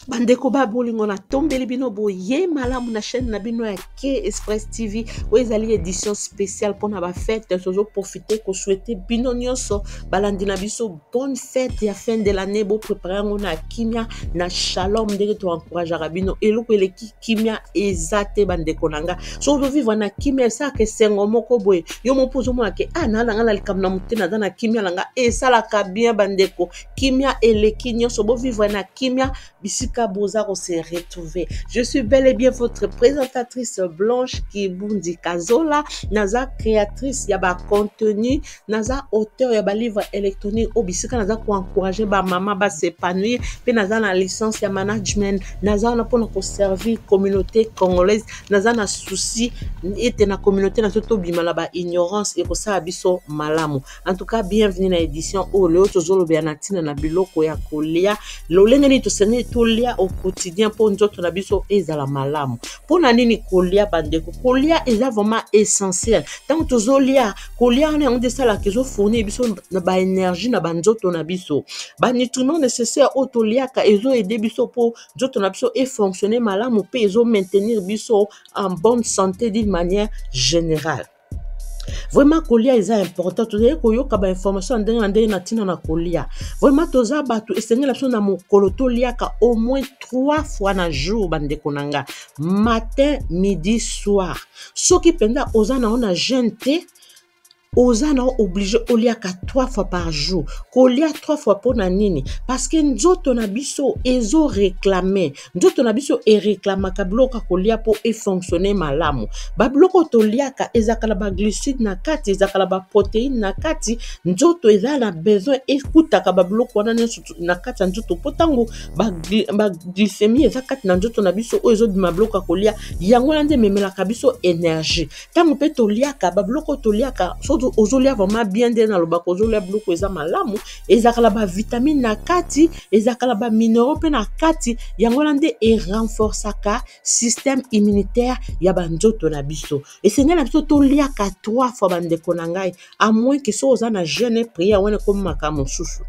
bandeko ba bolingo natombeli bino boye malamu na chaîne na bino ya ke express tv oyo ezali édition spéciale mpona bafete tozoprofite koswete bino nyonso balandi na biso bonne fete ya fin de l'année boprépare yango na kimia na shalom ndenge toencourageaka bino eloko eleki kimia eza te bandeko na nga so ozovivre na kimia esalaka esengo moko boye yo moko ozomona ke a ah, naa na nga na likambo na motema aza na kimia na nga esalaka bien bandeko kimia eleki nyonso bovivre na kimia bisika boza kose retrouver je suis bel et bien votre présentatrice blanche kibundi kazola naza créatrice ya bacontenu naza auteur ya balivre électronique oyo bisika naza koencourage bamama basepanouir mpe naza na licence ya management naza wana mpona koservir communauté congolaise naza na souci ete na communauté na biso tobima na baignorance ekosala biso malamu en tout cas bienvenue na édition oyo oh, lelo tozolobela na ntina na biloko ya kolia lolenge nini tosengeli tolia au quotidien mpo nzoto na biso ezala malamu mpo na nini kolia bandeko kolia eza vraiment essentiel ntango tozolia kolia wana yango nde esalaka ezofournir biso na baénergie na banzoto na biso banutriments nécessaire oyo toliaka ezoede biso mpo nzoto na biso efonctionne malamu mpe ezomaintenir biso en bonne santé d'une manière générale vraiment kolia eza important tozali koyoka bainformation ya ndenge na ndenge na ntina na kolia vraiment toza bato esengela biso na mokolo toliaka au moins trois fois na jour bandeko na nga matin midi soir soki mpenza oza na yo na jeune te oza na oblige oliaka trois fois par jour kolia trois fois mpo na nini parce que nzoto na biso ezo reclame nzoto na biso ereklamaka biloko ya kolia mpo efonctionne malamu babiloko toliaka ezalaka na baglucide na kati ezalaka na baproteine na kati nzoto eza na besoin ekutaka babiloko wana nyonso na kati ya nzoto mpo ntango baglycemie eza kati na nzoto na biso oyo ezobima biloko ya kolia yango wana nde ememelaka biso energie ntango mpe toliaka babiloko oyo toliaka soki ozolia vraimen bien nde nalobaka ozolia biloko eza malamu ezalaka na bavitamine na kati ezalaka na baminero mpe na kati yango wana nde erenforcaka système immunitaire ya banzoto na biso esengeli na biso toliaka trois fois bandeko na ngai amoin ke soki oza na jeune prière wana ekomi makambo mosusu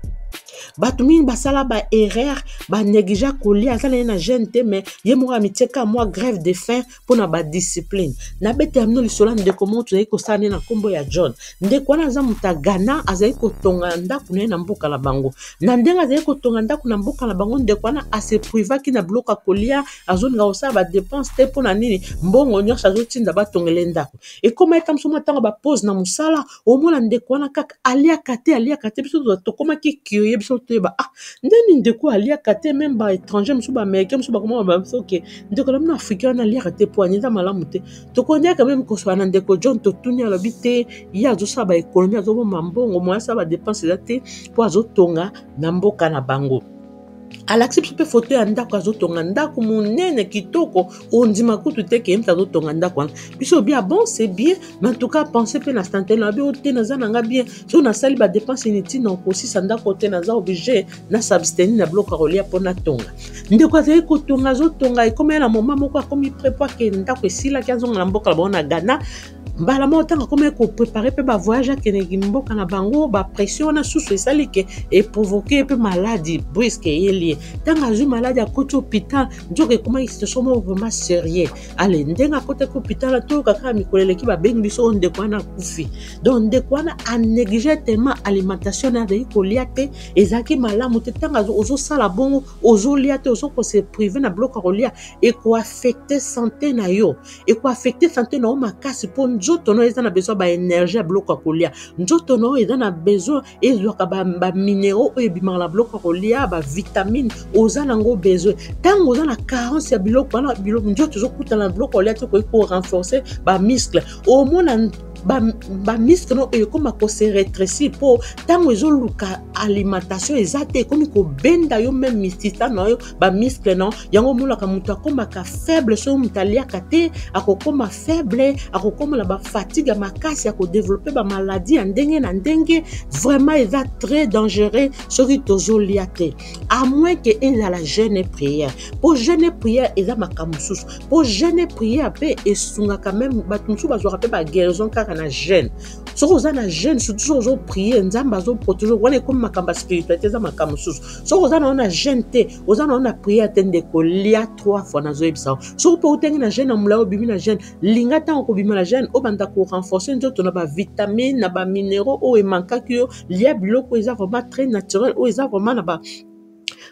bato mingi basala baerreur banegligea kolia aza na ye na jeune te mais ye moko ya mitieka mwa grève de fin mpo na badiscipline nabetela bino lisolo ya ndeko moko tozali kosala nde na nkombo ya john ndeko wana aza moto ya ghana azali kotonga ndako na ye na mboka na bango na ndenge azali kotonga ndako na mboka na bango ndeko wana aseprivaki na biloko ya kolia azolinga kosala badepense te mpo na nini mbongo nyonso azotinda batongele ndako ekomaki kamso mwa ntango bapose na mosala omona ndeko wana kaka aliaka te aliaka te biso tokomaki curie biso toyeba ah ndeni ndeko aliaka te meme ba étranger mosusu ba américain mosusu bakoma ba biso ke ndeko na bino africain wana aliaka te po aniza malamu te tokoniaka meme kosala na ndeko john totuni alobi te ye azosala ba économie azobomba mbongo moyasala ba dépense eza te po azotonga na mboka na bango alakisi biso mpe foto ya ndako azotonga ndako monene kitoko ondima kutu te ke mpe azotonga ndako wana biso obi ah bon c'est bien mais en tout cas pense mpe na stantele abi o te naza na nga bien so nasali badepense inutile na okosisa ndako te naza oblige na substeni na biloko ya kolia mpo natonga ndeko azali kotonga azotonga ekomela na moma moko akomi prepoi ke ndako esilaki azonga na mboka na bango na ghana mbala moko ntango akomaki koprepare mpe bavoyage akendeki mboka na bango bapression wana susu esali ke eprovoke mpe maladi briske eyeli ye ntango azwi maladi akoti hôpital nzoka ekomaki situation moko vraiment serieux ale ndenge akotaki hôpital atoyoka kaka mikolo eleki babengi biso oyo ndeko wana akufi donc ndeko wana anéglige tellement alimentation na azali kolia te ezalaki malamu te ntango ozosala bongo ozolia te ozokoseprive na biloko ya kolia ekoaffecte sante na yo ekoaffecte sante na yo makasi mpo nzoto na yo eza na besoin baenergie ya biloko ya kolia nzoto na yo eza na besoin ezwaka baminero oyo ebimaka na biloko ya kolia bavitamine oza na yango besoin ntango oza na carence ya biloko wana nzoto ezokutana na biloko ya kolia te okoki korenforce bamuscle omona bamiske no oyo ekóma kose retresi mpo ntango ezoluka alimentation eza te ekomi kobenda yo meme misisa na yo bamiskle no yango omonaka moto akomaka faible soki moto aliaka te akokoma faible akokoma na bafatigue ya makasi ya kodevelope bamaladi ya ndenge na ndenge vraiment eza très dangereux soki tozolia te à moins ke ezala jeune et prière mpo jeune et prière eza makambo mosusu mpo jeune et prière mpe esungaka meme bato mosusu bazwaka mpe baguérison kaka na jeune soki oza na jeune surtout soki ozoprie nzambe azoprotege wana ekomi makambo ya spiritualité eza makambo mosusu soki oza na yo na jeune te oza na yo na priere te ndeko lia trois fois nazoyebisa yo soki mpe otenge na jeune ya molai obimi na jeune linga ntango kobima na jeune obanda korenforce nzoto na bavitamine na baminéraux oyo emankaki yo lia biloko oyo eza vraiment très naturel oyo eza vraiment na ba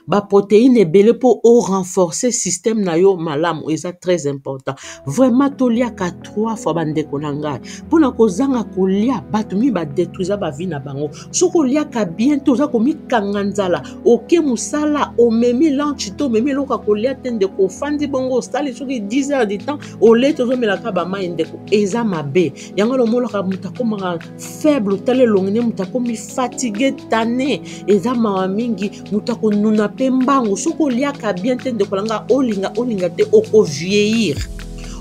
baproteine ebele mpo o renforcer système na yo malamu eza très important vraiment toliaka trois fois bandeko na ngai mpo na kozanga kolia bato mingi badetruisa bavi na bango soki oliaka bien te oza komikanga nzala oke mosala omemi lanche te omemi eloko ya kolia te ndeko ofandi bongo osali soki 10 heures du temps oleti ozomelaka bamai ndeko eza mabe yango lomonaka moto akomaka faible otala elongi ne moto akomi fatigue tane eza mawa mingi moto akonuna mpe mbangu soki oliaka bien te ndeko nanga olinga olinga te okovieillir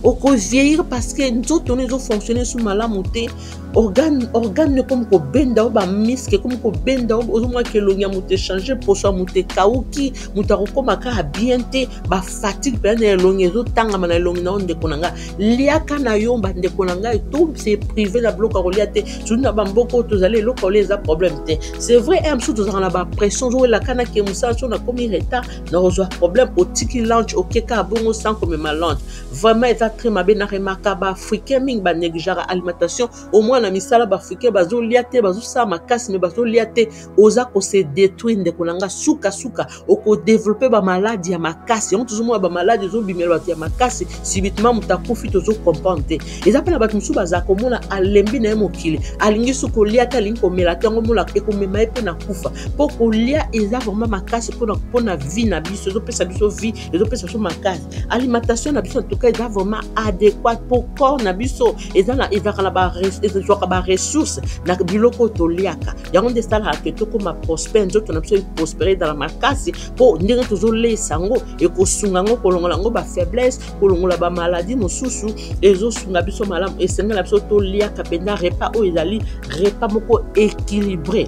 okovieillir parce que nzoto no ezofonctionne su malamu te organe organe ekomi kobenda o bamiske ekomi kobenda ozomona ke elongi ya moto echange poso ya moto ekauki moto akokoma kaka bien te bafatigue mpenza na elongi ezotangama na elongi na yo ndeko na ngai liaka na yo bandeko na ngai to se prive na biloko ya kolia te surtout na bamboka oyo tozali eloko ya kolia eza problème te c'est vrai e mosusu tozalaka na bapression ozowelaka na ke mosala so nakomi retard nakozwa problème otiki lunch okeka bongo sans komema lunch vraiment eza très mabe na remaka baafricain mingi banegligeaka alimentation omoi na misala baafricain bazolia te bazosala makasi me bazolia te oza kose détruire ndeko na nga sukasuka okodeveloppe bamaladi ya makasi yango tozomona bamaladi ezobimela bato ya makasi subitement moto akufi tozocomprendre te eza mpe na bato mosusu baza komona alembi na ye mokili alingi su kolia te alingi komela te yango mona ekomema ye mpe na kufa mpo kolia eza vraiment makasi mpona vie na biso ezopesa biso vie ezopesa biso makasi alimentation na biso en tout cas eza vraiment adéquate mpo corps na biso ezwaka baressource na biloko oyo toliaka yango nde esalaka ke tokóma prospère nzoto na biso eprospere ezala makasi mpo ndenge tozoleisa yango ekosunga yango kolongola yango bafaiblesse kolongola bamaladi mosusu ezosunga biso malamu esengela biso toliaka mpenza repas oyo ezali repas moko équilibré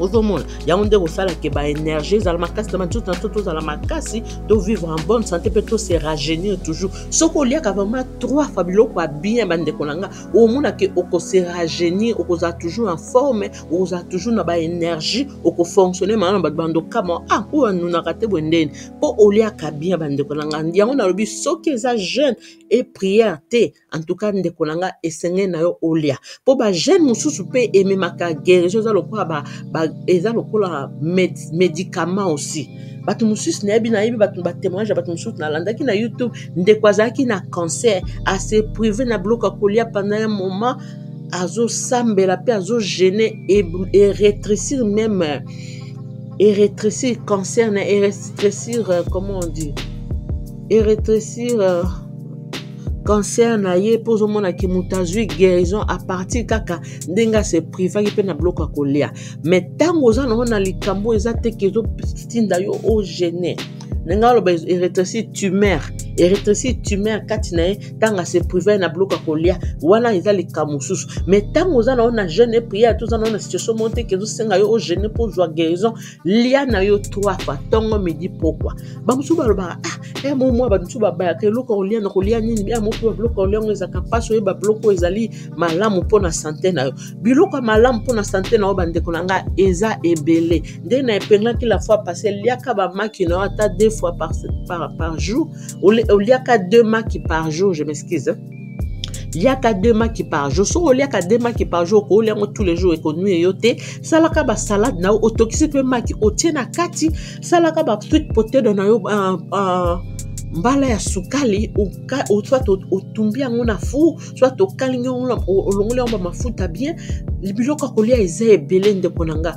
ozomona yango nde kosala ke baenergie ezala makasi na banzoto na biso tozala makasi tovivre en bonne santé mpe tose rajeunir toujours soki oliaka vraiment trois fois biloko ya bien bandeko na nga omonake okose rajeunir okozala toujours en forme okozala toujours na baénergie okofonctionne maa na bato bando kama ah oyo anunaka te boye ndeni mpo oliaka bien bandeko na nga yango nalobi soki eza jeune e prière te en tout cas ndeko na nga esengeli na yo olia mpo bagene mosusu mpe ememaka guérison eza lokola ba, ba, eza lokola med, médicament aussi bato mosusu nayebi nayebi bato batémoignage ya bato mosusu nalandaki na youtube ndeko azalaki na cancer ase prive na biloko ya kolia pendant un moment azosambela mpe azogene eretrécir même eretrécir cancer na eretrécir euh, comment on dit eretrécir euh, cancer na ye mpo ozomona ke moto azwi guérison à partir kaka ndenge ase privaki mpe na biloko ya kolia mais ntango oza nango na likambo eza te ke ezotinda yo ogene ndenge aloba eretressi tumeur eretressi tumeur kati na ye ntango ase prive na biloko ya kolia wana eza likambo mosusu mais ntango oza nango na jeune prière to oza nango na situation moko te ke ezosenga yo ogene mpo ozwa guérison lia na yo trois fois ntongo midi pokwa bamosusu balobaka ah eh, mo mwa bato mosusu babayaka eloko ya kolia na kolia nini ya mope babiloko ya kolia yango ezalaka mpasi oyeba biloko oyo ezali malamu mpo na sante na yo biloko ya malamu mpo na sante na yo bandeko na ngai eza ebele nde na epenglaki la fois passe liaka bamaki na yo ata deux fois par, par, par jour oliaka deux maki par jour je m'excuse liaka deux maki par jour soki oliaka deux maki par jour okolia yango tous les jours ekonue yo te salaka basalade na yo otokisi mpe maki otie na kati salaka basweet potedo na yo uh, uh, mbala ya sukali soit otumbi yango na four soit okalingi yango olongoli yango bamafuta bien biloko ya kolia eza ebele ndeko na nga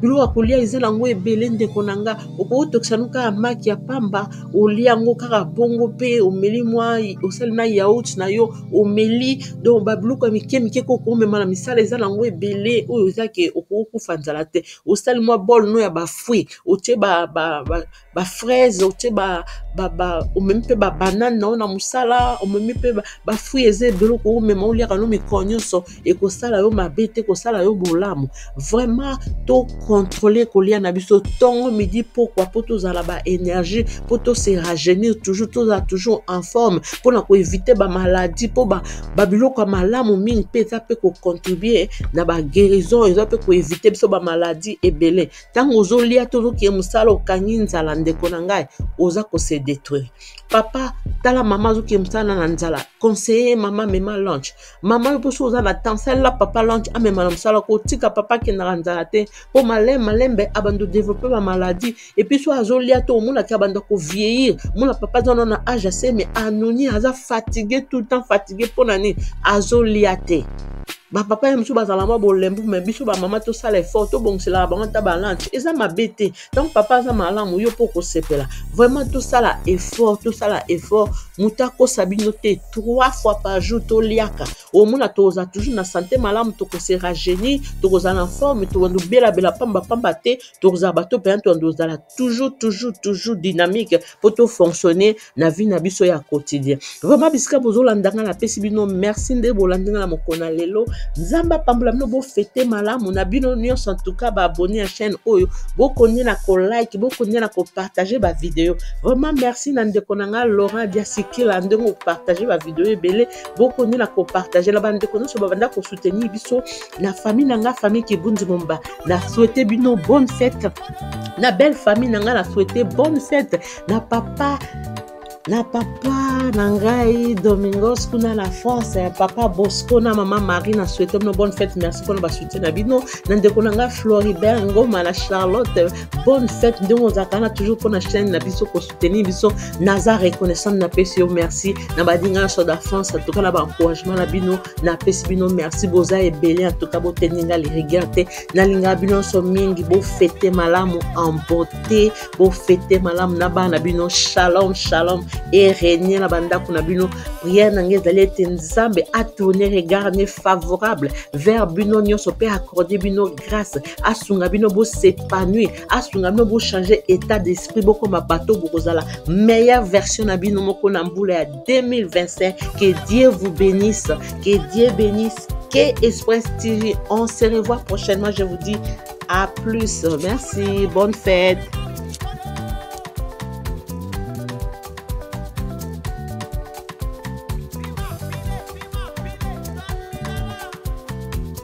biloko ya kolia eza nango ebele ndeko na nga okotokisa no kaka maki ya pamba olia yango kaka bongo mpe omeli mwa osali na yaut na yo omeli donc babiloko ya mike mike ko okomema na misala eza nango ebele oyo eza ke okokufa nzala te osali mwa bol no ya bafruit otie ba, ba, ba ba fraise otie ba ba ba omemi mpe ba banane na yo na mosala omemi mpe ba fruit eza ebele okoki omema oliaka no mikolo nyonso ekosala yo mabe te ekosala yo bolamu vraiment to controle kolia na biso ntongo midi pokwa mpo tozala ba énergie mpo to se rajeunir toujours tozala toujours en forme mpo na koevite bamaladi mpo babiloko ya malamu mingi mpe eza mpe kocontribue na baguérison eza mpe koevite biso bamaladi ebele ntango ozolia to ozokie mosala okangi nzala ndeko na ngai oza kose détruire papa tala mama azokie mosala na nzala conseiller mama mema lunch mama yo mposo oza na temps salela papa lunch amema na mosala kotika papa akendaka nzala te mpo malem malembe abanda odeveloppe bamaladi epuis so azolia to omonaki abanda kovieillir mona papa aza na age aseme anoni aza fatigue tout le temps fatigue mpo na nini azolia te bapapa ya mosusu bazala mwa bolembu me biso bamama tosala effort tobongiselaka bango ata balanche eza mabe te ntango papa aza malamu yo mpo okosepela vraiment tosala effort tosala effort moto akosa bino te trois fois par jour toliaka omona tokozala toujours na sante malamu tokose rajeunir tokozala na forme tokobanda obelabela pambapamba te tokozala bato mpenza tokobanda ozala toujours toujours toujours dynamique mpo to fonctionner na vie na biso ya quotidien vraiment bisika bozolanda ngai napesi bino merci nde bolandi ngai na mokolo na lelo nzambe apambola bino bofete malamu na bino nyonso entouka baabonne ya chaîne oyo bokonye na kolike bokonye na kopartage bavideo vraiment merci na ndeko na ngai laurent diasikila ndenge opartage bavideo ebele bokoniola kopartage na bandeko nyonso babanda kosoutenir biso na famille na nga famille kibundi momba na souhaite bino bonne fête na belle famille na nga na souhaite bonne fête na papa na papa na ngai domingos kuna na france ya papa bosco na mama marie na souhaite bino bonne fête merci mpona basoutien na bino na ndeko na ngai floribert ngoma na charlotte bonne fête ndenge ozalaka na toujours mpona chaine na biso soutenir biso naza reconnaissante napesi yo merci na badinga nyonso da france atuka na baencouragement na bino napesi bino merci boza ebele atuka botendi nga lirigueur te nalingaka bino nyonso mingi bofete malamu en beauté bofete malamu na bana na bino shalom shalom erenie na bandako na bino priere na ngai ezali ete nzambe atourne regard ne favorable vers bino nyonso mpe accorde bino grâce asunga bino bosepanui asunga bino bochange état d'esprit bokoma bato bokozala meilleure version na bino moko na mbula ya 2025 que dieu vous bénisse que dieu bénisse que express tv on se revoit prochainement je vous dis à plus merci bonne fête